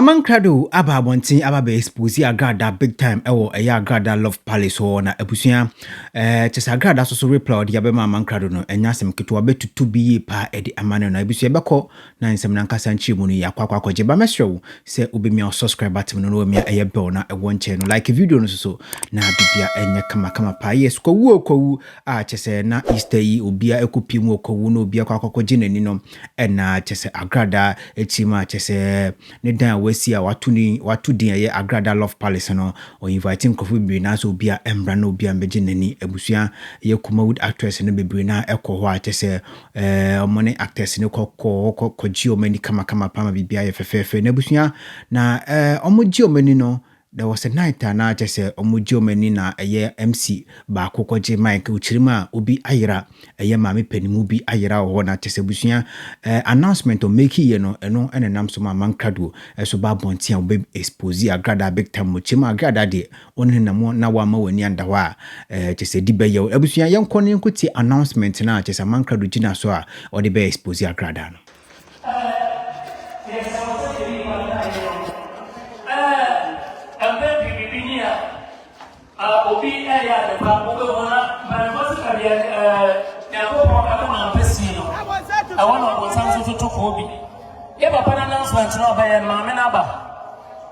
Amankrado aba abɔnten aba bɛ expose agrada big time ɛwɔ ɛyɛ agrada love palace hɔ na abusua ɛɛ kyɛ sɛ agrada soso reply ɔde abɛma amankrado no ɛnyɛ asɛm ketewa bɛtutu bi yie paa ɛde ama no na abusua bɛkɔ na nsɛm no ankasa nkyerɛmu no yɛ akɔ akɔ akɔgye ba mɛsrɛ wo sɛ wobɛmia wo subscribe button no na wamia ɛyɛ bell na ɛwɔ nkyɛn no like video no soso na bibia ɛnyɛ kama kama paa yes kwawu o kwawu a kyɛ sɛ na Easter yi obia ɛkɔ pie mu o kwawu na obia kɔ akɔkɔgye n'ani no ɛna kyɛ sɛ agradaa akyiri mu a kyɛ sɛ ne dan a wasi a wato ne wato din ɛyɛ agradaa love palace no ɔ invite nkurɔfo bebree na sɛ obia ɛmbra na obia mbɛgye n'ani abusua ɛyɛ kumawood actress no bebree na ɛkɔ hɔ a kyɛ sɛ Eh, ɔmo ne actors no kɔ kɔ kɔ kɔ gye ɔmo ani kama kama paa ma biribi ayɛ fɛfɛɛfɛ na abusua na eh ɔmo gye ɔmo ani no there was a night a na kyɛ sɛ ɔmo gye ɔmo ani na ɛyɛ MC baako kɔ gye mic okyiri mu a obi ayera ɛyɛ maame panin mu bi ayera wɔ hɔ na kyɛ sɛ abusua eh announcement ɔmo make yɛ no ɛno ɛna nam so ma amankradoɔ ɛso ba abɔnten a ɔbɛ expose agradaa big time mo kyɛ mu agradaa deɛ Wɔn ne nam na wama w'ani anda hɔ a eh, kyɛ sɛ di bɛyɛ wo. Abusua yɛnkɔ ne yɛnkɔ tie announcement no a kyɛ sɛ amankrado gyina so a ɔde bɛ expose akradaa no.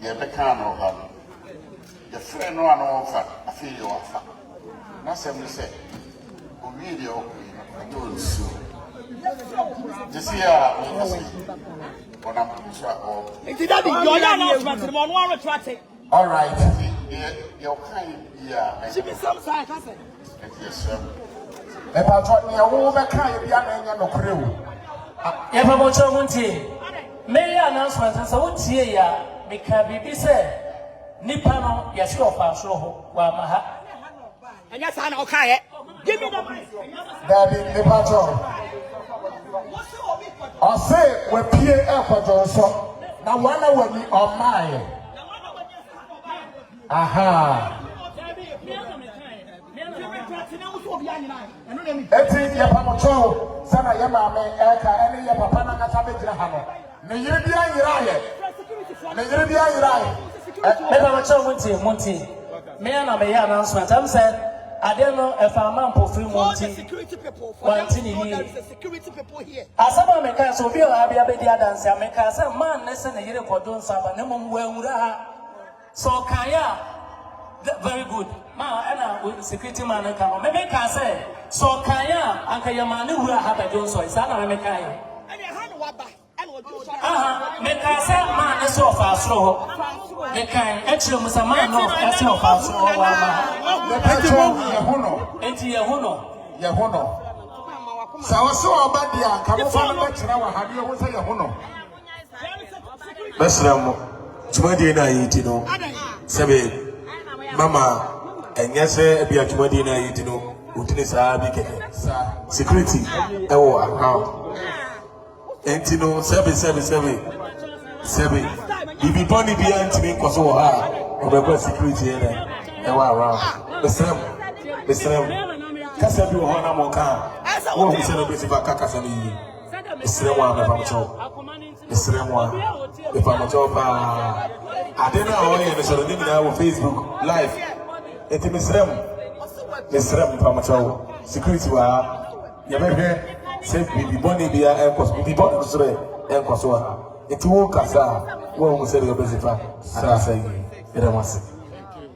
Deɛ ɛbɛkaa no ɔha no, yɛfrɛɛ no a na ɔmfa, afei deɛ wafa. N'asɛm ne sɛ, ɔwiee deɛ ɔrekɔ yi no, ɛnyɛ ɔnsuo. Gye sɛ yɛ a mekasa yi, ɔnam po so a ɔrekɔ. Nti dadi, deɛ ɔyɛ announcement no ma ɔno ara reto ate. Alright, nti deɛ deɛ ɔkae biara, mɛyɛ. Sibisɛm saa, ɛka sɛ. Enti yɛsrɛ mo, mpakyɛw, nea wo bɛka yɛ bia na ɛnyɛ nokore o. Yɛ mpabokyɛw mo ntie. Me yɛ announcement no sɛ wo tie yɛ a, me ka biribi sɛ nipa no yɛ se ɔfaa soro ho, wa ma ha. Ɛnyɛ saa na ɔka yɛ. Give me the mic. Daabi, mpakyɛw. Ɔse wapie ɛkɔdwonsɔ na wana wani ɔmaa yɛ. Ahaa. Eti yɛ pamokyɛw sɛ na yɛ maame ɛka ɛne yɛ papa nankasa bɛgyina ha no. Ne yere bi anyera yɛ. Ne yere bi anyera yɛ. Me pamokyɛw mu nti mu nti. Me ana me yɛ announcement. Ɛm sɛ adeɛ no ɛfa ama mpofiri mu nti. Wanti ne yie. Asɛm a meka sɛ obi ɔha bi abɛdi adanse a meka sɛ man ne sɛ ne yere kɔdwo nsa ba na mmom wanwura ha. Sɛ ɔkaeɛ a the very good. Ma ɛna wo security man no nka no. Meme kaa sɛ sɛ ɔkaeɛ a anka yɛ maa ne wura ha bɛdwo nsɔe. Saa na meme kaeɛ. Ɛne ɛha na waba ɛna ɔdwo nsɔre ha. Aha, me kaa sɛ man no sɛ ɔfaa soro hɔ. Me kae ɛkyerɛ mu sɛ man no ɛsɛ ɔfaa soro hɔ wɔ ama ha. Mepɛkyɛw yɛ ho no. Enti yɛ ho no. Yɛ ho no. Sɛ ɔsɛ ɔba deɛ anka mo fa no bɛkyerɛ wɔ ha ne yɛ ho sɛ yɛ ho no. mɛsrɛ mo dwumadie no a yɛdi no sɛ be mama ɛnyɛ sɛ ebi a dwumadie no a yɛdi no wotini saa bi kɛkɛ security ɛwɔ account nti no sɛbe sɛbe sɛbe sɛbe biribi bɔne biara ntumi nkɔ so wɔ ha a ɔbɛkɔ security ɛnɛ ɛwɔ around mesrɛ mo mesrɛ mo kasa bi wɔ hɔ na mo ka a wɔhu sɛ no bɛsi ba ka kasa no yie mesrɛ mo a mepamkyɛw mesrɛ mo a mepamkyɛw paa ade no a ɔyɛ no sɔrɔ ne nyinaa wɔ facebook live ɛti mesrɛ mo mesrɛ mo mepamkyɛw security wɔ ha yɛbɛhwɛ sɛ biribi bɔne bia ɛnkɔ so biribi bɔne no sorɛ ɛnkɔ so wɔ ha ɛti wo kasa a woahu sɛdeɛ wobɛsi fa anaasɛ yi yɛdɛ mo ase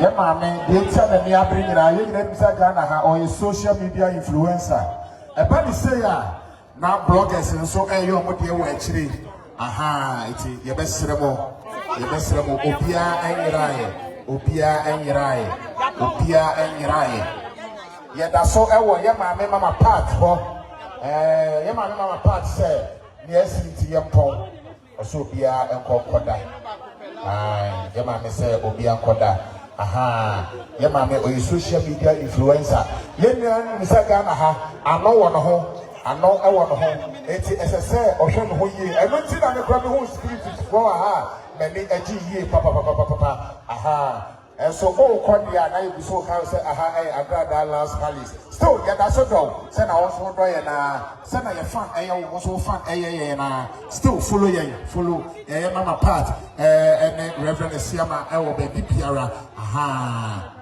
Yɛ maame deɛ nti a n'ani abere nyinaa yɛ nyinaa nim sɛ Ghana ha ɔyɛ social media influencer. Ɛba ne sei a na bloggers nso ɛyɛ ɔmo deɛ wɔ akyire. Aha eti yɛbɛsrɛ mo yɛbɛsrɛ mo obiara ɛnyeraeɛ obiara ɛnyeraeɛ obiara ɛnyeraeɛ. Yɛda so ɛwɔ yɛ maame mama part hɔ ɛɛ yɛ maame mama part sɛ nea ɛsi nti yɛmpɔn. Ɔsɛ obiara nkɔ nkɔda aah yɛ maame sɛ obiara nkɔda ahaa yɛ maame ɔyɛ social media influencer yɛ nyinaa nim sɛ Ghana ha ano wɔ ne ho ano ɛwɔ ne ho eti ɛsɛ sɛ ɔhwɛ ne ho yie ɛno nti na mekura me ho spirit foɔ ahaa m'ani agye yie papapapapapa ahaa Nso o kɔ deɛ a na yɛ gu so ka wo sɛ aha ɛyɛ agradaa lance hallis still yɛ da so dɔ wo sɛ na wo nso wo dɔ yɛn aa sɛ na yɛ fan ɛyɛ wo wo nso wo fan ɛyɛ yɛn aa still follow yɛn follow ɛyɛ mama part ɛɛ ɛne reverend asiama ɛwɔ baabi biara ahaa.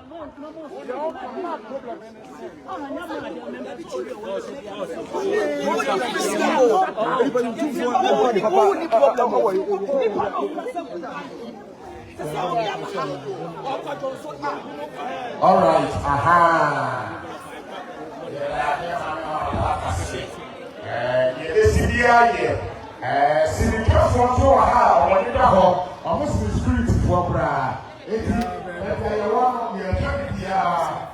All right, aha. Yɛbɛsi bi ayɛ. Sirikɛfoɔ nso wɔ ha a wɔn da hɔ. Wɔn si spiritfoɔ koraa. Eti ɛfɛ yɛ wɔn yɛ fɛ bi biara.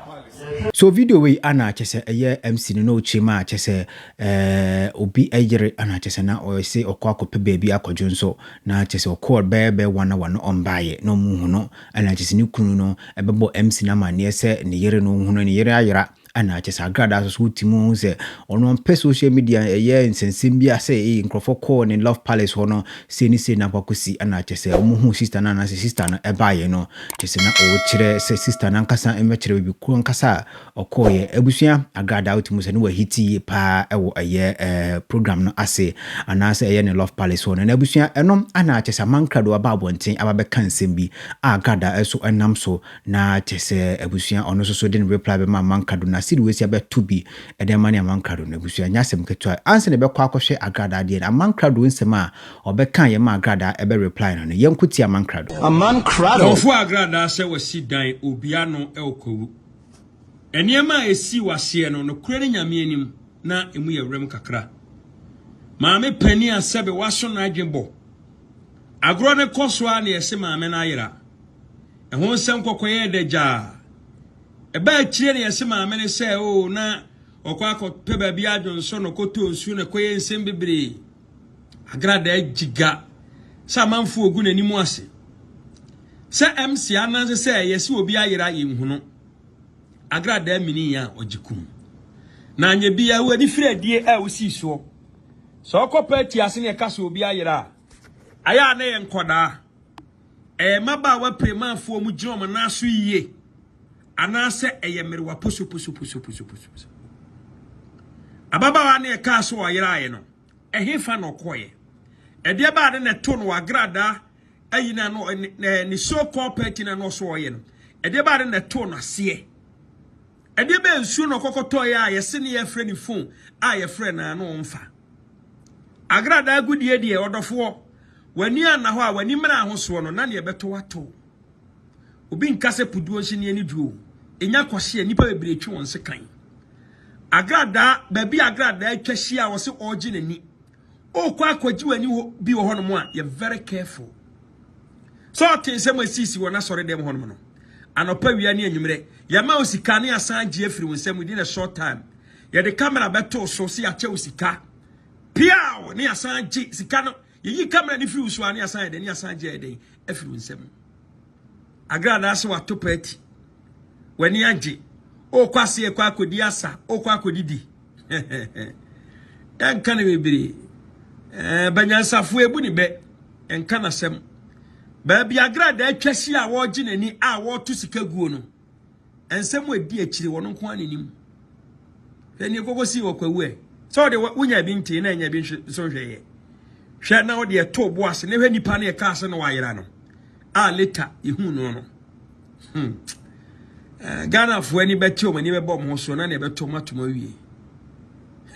So video wei ana akyɛ sɛ ɛyɛ MC no na ɔkyerɛ mu a kyɛ sɛ ɛɛ obi ɛyere ana akyɛ sɛ na ɔyɛ se ɔkɔ akɔpɛ baabi akɔdwo nso Na kyerɛ sɛ ɔkɔɔr bɛyɛ bɛ wan awa no ɔmmbaeɛ, na ɔmmuhu no, ana kyerɛ sɛ ne kunu no bɛbɔ MC no amanneɛ sɛ ne yere no ɔhu no, ne yere ayera, ana kyerɛ sɛ agradaa so so wote mu hu sɛ ɔno ɔmpɛ social media ɛyɛ nsɛnsɛm biara sɛ ei nkorɔfoɔ kɔɔ ne love palace hɔ no sei ne sei na akɔ akɔsi, ana kyerɛ sɛ ɔmmuhuu sister no anaasɛ sister no baeɛ no, kyerɛ sɛ na ɔrekyerɛ sɛ sister no ankasa mmɛkyerɛ baabi korɔ ankasa a ɔkɔɔeɛ. Abusua Agrada wote mu sɛ ne wahiti yie paa ɛwɔ ɛyɛ ɛɛ program no ase anaasɛ ɛyɛ ne Love Palace hɔ no. Na abusua ɛno ana kyɛ sɛ amankra de waba abɔnten aba bɛka nsɛm bi a Agrada ɛso ɛnam so na kyɛ sɛ abusua ɔno nso so de ne reply bɛma amankra do na sidi wei si abɛto bi ɛde ama ne amankra do no abusua nyɛ asɛm ketewa. Ansa na ɛbɛkɔ akɔhwɛ Agrada adeɛ no amankra do nsɛm a ɔbɛka yɛ ma Agrada ɛbɛ reply no no yɛnko tie amankra do. Aman krado. Dɔnfoɔ Agrada sɛ wasi dan obi ano ɛwɔ Kwawu. Nneɛma a esii wɔ aseɛ no, nokorɛ ne Nyame anim, na emu yɛ werɛm kakra. Maame panin a sɛbe waso no adwene bɔ. Agorɔ no kɔ so ara na yɛse maame no ayera. Ɛho nsɛm kɔkɔyɛɛ dɛ gyaa. Ɛbaa akyire na yɛse maame no sɛ oo na ɔkɔ akɔpɛ baabi adwonsɔ na ɔkɔtɔ nsuo na ɛkɔyɛ nsɛm bebree. Agradaa agyi ga sɛ amanfoɔ regu n'anim ase sɛ MC Ananse sɛ yɛse obi ayera yɛnhunu Agradaa mini a ɔgye kum na anyɛ bi a w'ani firi adie a wosii soɔ sɛ ɔkɔ paati ase ne ɛka sɛ obi ayera a ayɛ a na yɛ nkɔdaa Ɛyɛ mmabaawa piremanfoɔ mu gyina wɔn nan so yie anaasɛ ɛyɛ mmerewa posoposoposoposoposo? Ababaawa ne ɛkaa sɛ ɔyeraeɛ no, ɛhefa na ɔkɔeɛ? Ɛdeɛ baa ne na ɛto no agradaa ayi na no ne so called party na no ɔso ɔyɛ no ɛdeɛ baa ne na ɛto no aseɛ? Ɛdeɛ bɛɛ nsuo na ɔkɔkɔtɔeɛ a yɛse ne yɛfrɛ ne phone a yɛfrɛ no a na ɔmfa? Agradaa agudie deɛ, ɔdɔfoɔ, w'ani anna hɔ a, w'ani mmra ahosoɔ no, na neɛ ɛbɛtɔ wo atɔ o. Obi nka sɛ puduo nso ni ani dwo o. Ɛnya kwasea, nnipa bebree twe wɔn sekan. Agradaa, baabi agradaa atwa hyia a, ɔse ɔregye n'ani. Ɔrekɔ akɔgye w'ani hɔ bi wɔ hɔnom a, yɛ very careful. Sɛ ɔte nsɛm a ɛsisi wɔn asɔre dɛm hɔnom no, anɔpa wia ne anwummerɛ, yɛma wo sika ne asan gye afiri wo nsɛm within a short time. Yɛde camera bɛtoo so sɛ yɛakyɛ wo sika. Piaw! Ne yɛasan gye sika no. Yɛyi camera no firi wo so a, ne yɛasan yɛ dɛn? Ne yɛasan gye ɛyɛ dɛn? Afiri wo nsam. Agradaa sɛ wato paati. W'ani agye. Wokɔ ase ɛkɔ akɔdi asa. Wokɔ akɔdidi. Yɛnka no bebree. Eh, banyansafo ebu ne bɛ. Yɛnka n'asɛm. Baabi agradaa atwa si a wɔregye n'ani a wɔreto sika guo no. nsɛm a ɛdi akyire wɔn nko ara n'anim hwɛ ne koko si wɔ kwawu ɛ sɛ ɔde wonya bi ntee na anya bi nso nhwɛ yɛ hwɛ na ɔde ɛto bo ase na hwɛ nipa no ɛka ase na wayera no a later yɛhu no no hmm. eh, ghanafoɔ ani bɛte ɔm ani bɛbɔ ɔmo so na ne ɛbɛto ɔmo atom awie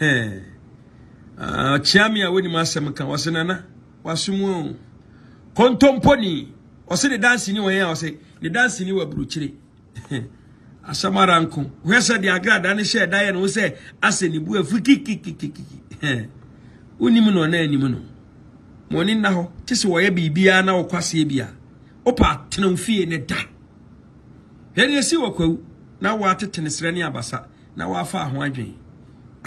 eh, kyea me a wonim asɛm ka wɔse nana Wasom o. Kontomponi. Ɔse ne dansini wɔ yɛn a ɔse ne dansini wɔ aburukyire. Asɛm ara nko. Hwɛ sɛ de agrada ne hyɛ da yɛ ne ho sɛ asɛ ne bu afu kikikikiki. Wonim no ɔna anim no. Mo ani nna hɔ. Te sɛ wɔyɛ biribiara na wɔkɔ aseɛ bi a. Wopa tena wo fie ne da. Hwɛ ne ɛsi wɔ kwawu na wɔatete ne serɛ ne abasa. na wɔafaa ho adwen.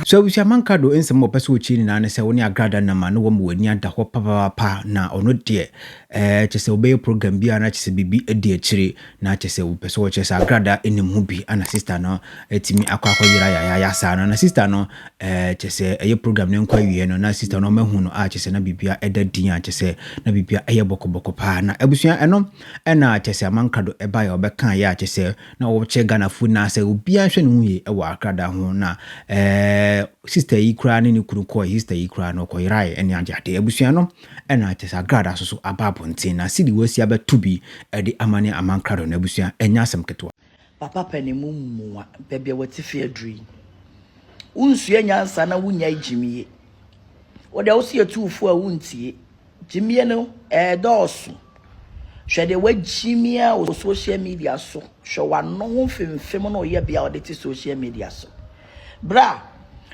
So abusua manka do nsɛm a wɔpɛ sɛ wɔkyerɛ nyinaa ne sɛ wo ne agrada nam a na wɔma w'ani ada hɔ papaapa na ɔno deɛ ɛɛ kyɛ sɛ wobɛyɛ program bi a na kyɛ sɛ biribi adi akyire na kyɛ sɛ wopɛ sɛ wɔkyerɛ sɛ agrada nim ho bi ana sista no atumi akɔ akɔ yera yayaya saa no na sista no ɛɛ kyɛ sɛ ɛyɛ program no nkɔ awieɛ no na sista no ɔmahu no a kyɛ sɛ na biribia ɛda din a kyɛ sɛ na biribia ɛyɛ bɔkɔbɔkɔ paa na abusua ɛno ɛna kyɛ sɛ amanka do ɛbaeɛ a wɔbɛkaeɛ a kyɛ sɛ na wɔkyɛ Ghanafo nyinaa sɛ obiara nhwɛ ne ho yie wɔ akrada ho na ɛɛ sista yi koraa ne ne kunu kɔɔ sista yi koraa na ɔkɔyerae ɛne agye ade abusua no ɛna kyɛ sɛ akrada so so aba abɔnten na sidi wɔasi abɛto bi ɛde ama ne ama nkrado no abusua ɛnyɛ asɛm ketewa. Papa pɛ ne mu mmoa baabi a w'ate fi aduru yi wonsua nyansa na wonyae gyimie wo deɛ wose yɛtu wo fo a wontie. Gyimie no ɛɛdɔɔso. Hwɛ deɛ wagyimia wɔ social media so. Hwɛ wano ho mfemfem na ɔyɛ bea a ɔde te social media so. Bra,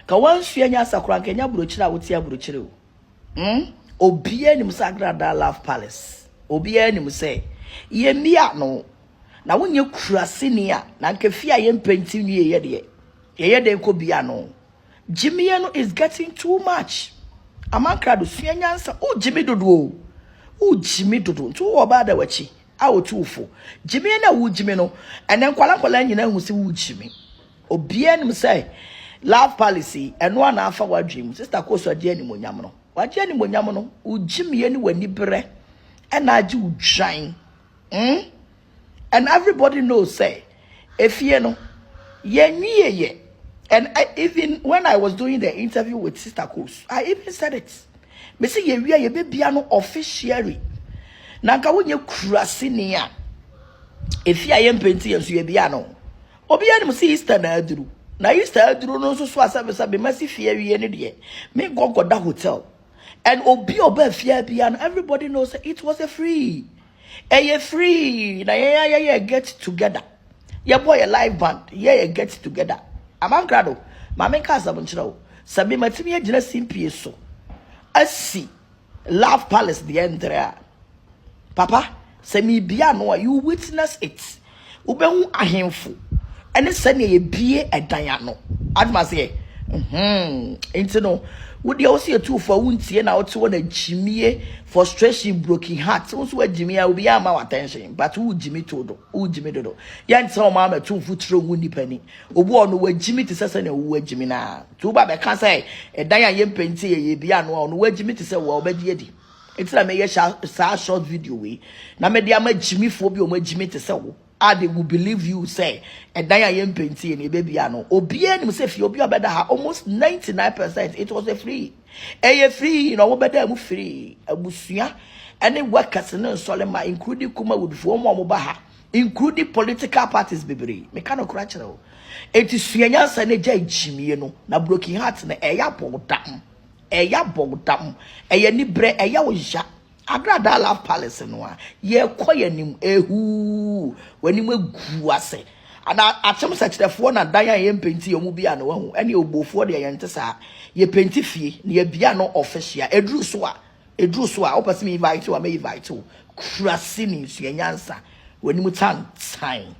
ka wansua nyasa koraa nka ɛnyɛ aburokyire a wote aburokyire o. Mm, obiara nim sɛ Agradaa Love Palace. Obiara nim sɛ yɛmia no. Na wonyɛ kuraseni a, na nka fie a yɛmpɛnti nwieɛ deɛ, yɛyɛ dɛn kɔ bia no? Gyimie no is getting too much. Amankrado sua nyansa. Wo gyimi dodo o. Wo gyimi dodo. Nti wo oba da wachi a otu ufo. Gyimie na wo gyimi no. Ene nkwala nkwala nyina hu se wo gyimi. Obia nim sɛ love policy eno ana afa wadwen mu. Sister Koso agye animonyam no. Wagye animonyam no. Wo gyimie ne wani berɛ ɛna agye wo dwan. Mm. and everybody knows say efie no yɛnwie yɛ and I, even when I was doing the interview with Sister Kos I even said it me se yɛwie yɛbɛbia no officially na nka wonyɛ kurase ni a efie a yɛmpɛ nti yɛn nso yɛbia no obi anim si Easter na aduru na Easter aduru no nso so asɛbisa bema si fie awie no deɛ me nkɔnkɔda hotel and obi ɔba fie bia no everybody knows it was a free Ɛyɛ free na yɛn a yɛyɛ get together. Yɛbɔ yɛ live band, yɛ yɛ get together. Amankra do, maame nka asɛm nkyerɛ wo. Sɛ me matumi agyina simpie so asi Love Palace deɛ ntere a, papa, sɛ mebia ano a, you witness it. Wobɛhu ahemfo ne sɛdeɛ yɛbie ɛdan ano. Adwuma seɛ. Mm-hmm. Nti no, wodeɛ wo se yɛtu fo a wontie na wote hɔ na gyimie, frustration, broken heart. Wo nso wagyimi a obiara ma wo attention but wogyimi to do, wogyimi dodo. Yɛnte sɛ wɔn ama tu mfo tiri ngu nnipa ni. Obi wɔ no wagyimi te sɛ sɛdeɛ wo wagyimi no a. Nti woba bɛka sɛ ɛdan a yɛmpɛnti yɛyɛ bi ano a ɔno wagyimi te sɛ wo a wobɛgye adi. Enti na meyɛ saa short video wei na mede ama gyimifoɔ bi a wɔagyimi te sɛ wo a they will believe you sɛ ɛdan a yɛmpɛntiɛ no yɛbɛbia no. Obiara nim sɛ fie obi a ɔbɛda ha almost 99 percent it was a free. Ɛyɛ free na wɔbɛda mu free. Abusua ɛne workers ne nsɔremma including Kumawudfoɔ wɔn a wɔba ha including political parties bebree. Meka no kora kyerɛ wo. Enti sua nyansa na gya gyimie no na broken heart no ɛyɛ abɔdam. Ɛyɛ abɔwodam, ɛyɛ aniberɛ, ɛyɛ wo ya. Agradaa Love Palace no a, yɛrekɔ yɛn anim, ehuu, w'anim agu ase. Ana akyem sɛ kyerɛfoɔ na dan a yɛmpenti yɛn mu bia no wahu, ɛne obuofoɔ deɛ yɛnte saa. Yɛpenti fie na yɛbia no official. Ɛduru so a, ɛduru so a, wopɛ sɛ me invite wo a, mɛ invite wo. Kura sini, sua nyansa, w'anim tantan.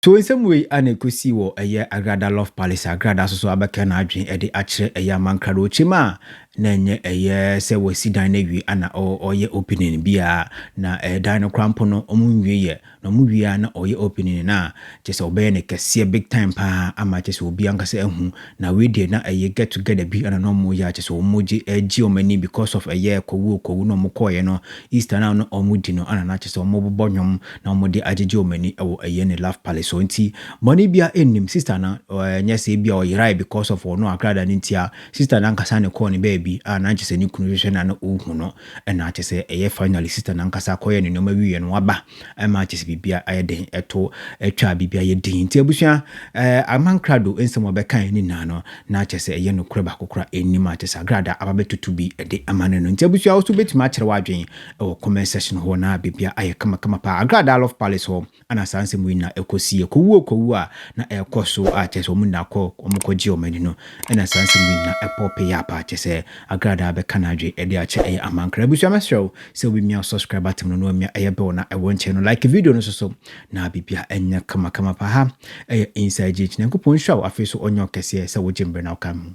To nsɛm wei a na ɛkɔsii wɔ ɛyɛ Agrada Love Palace a Agrada nso so abɛka n'adwene de akyerɛ ɛyɛ amankradokyem a na ɛnyɛ ɛyɛ sɛ wɔasi dan no awie ana ɔyɛ opening biara na dan no koraa mpo no ɔmo nwieɛ na ɔmo wie a na ɔyɛ opening no a kyɛ sɛ ɔbɛyɛ no kɛseɛ big time paa ama kyɛ sɛ obi ankasa ahu na wei deɛ na ɛyɛ get together bi ana na ɔmo yɛ a kyɛ sɛ ɔmo gye agye ɔmo ani because of ɛyɛ kɔwuo kɔwu na ɔmo kɔɔyɛ no Easter no a na ɔmo di no ana na kyɛ sɛ ɔmo bobɔ nwom na wɔde agyegye wɔn ani wɔ ɛyɛ ne love palace so nti bɔne bia nnim sister no ɛnyɛ sɛ bia ɔyerae because of ɔno akrada no ntia sister no ankasa ne kɔɔ ne baabi a na nkyɛ sɛ ne kunu hwehwɛ na na ɔhu no ɛna kyɛ sɛ ɛyɛ finally sister no ankasa kɔyɛ ne nneɛma wieɛ no waba ɛma kyɛ sɛ bibia ayɛ den ɛto atwa bibia yɛ din nti abusua ɛɛ amankrado nsɛm ɔbɛkae ne nyinaa no na kyɛ sɛ ɛyɛ nokorɛ baako kora ɛnnim a kyɛ sɛ agrada aba bɛtutu bi ɛde ama no no nti abusua wo so bɛtumi akyerɛ w'adwene wɔ comment section hɔ na biribiara ayɛ kamakama paa. Agradaa Love Palace hɔ na saa nsɛm wei nyinaa ɛkɔsiiɛ. Kɔwu o kɔwu a na ɛrekɔ so a kyerɛ sɛ wɔn nyinaa kɔ wɔkɔgyee wɔn ani no na saa nsɛm wei nyinaa ɛpɔɔpeeɛ a paa. Kyerɛ sɛ Agradaa bɛka n'adwene de akyɛ ɛyɛ amankra. Abusua mɛsrɛ wo sɛ wobɛmia wo subscribe button no na wamia ɛyɛ bell na ɛwɔ nkyɛn no. Like video no nso so na biribiara ɛnyɛ kamakama paa. Ha ɛyɛ Inside GH. Nyankopɔn nhyira wo afei nso ɔnyɛ wo kɛseɛ sɛ wogye mmerɛ na woka me ho.